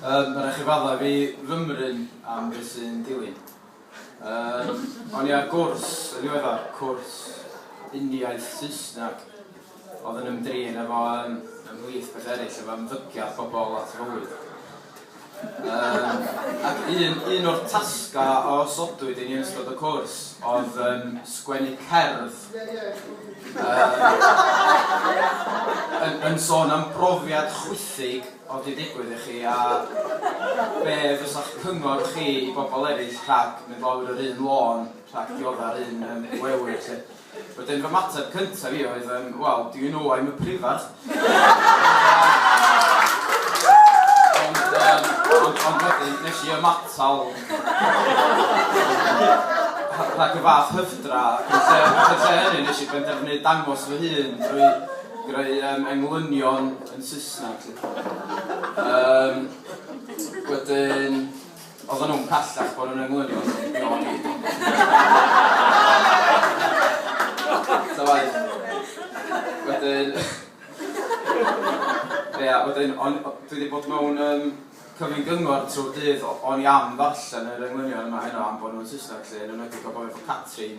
Yym, ma' 'na chi faddau fi fymryn am be' sy'n dilyn. Yym, o'n i ar gwrs yn ddiweddar, cwrs uniaith Saesneg, o'dd yn ymdrin efo yym ymhlith pethe eryll efo ymddygiad pobol at fywyd. Yym, ac un, un o'r tasgau a osodwyd i ni yn ystod y cwrs oedd um, sgwennu cerdd um, yn, yn sôn am brofiad chwythig o di digwydd i chi a be fysa'ch cyngor chi i bobl eraill rhag mynd lawr yr un lôn rhag diodda'r un um, wewyr. Wedyn fy ymateb cyntaf i oedd yym wel do you know I'm a prifardd? Ond yym ond ond wedyn nes i ymatal rhag y fath hyfdra ac yn lle ac yn lle hynny nes i benderfynu dangos fy hun drwy greu yym englynion yn Saesneg 'lly. Yym wedyn Oedden nhw'n pellach bod yn englynion o Beyond Meat ond os ti'n meddwl ta waeth. Wedyn Ia wedyn o'n dwi di bod mewn yym cyfyn gyngor trw'r dydd o- o'n i am ddarllen yr englynion yma heno am bod nhw'n Saesneg lly yn enwedig o bo' fi efo Catrin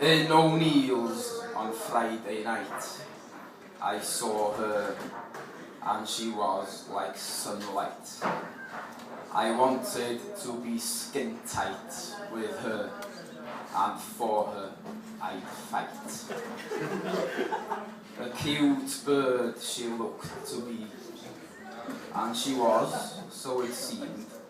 In O'Neill's on Friday night I saw her and she was like sunlight I wanted to be skin tight with her and for her I'd fight A cute bird she looked to be and she was, so it seemed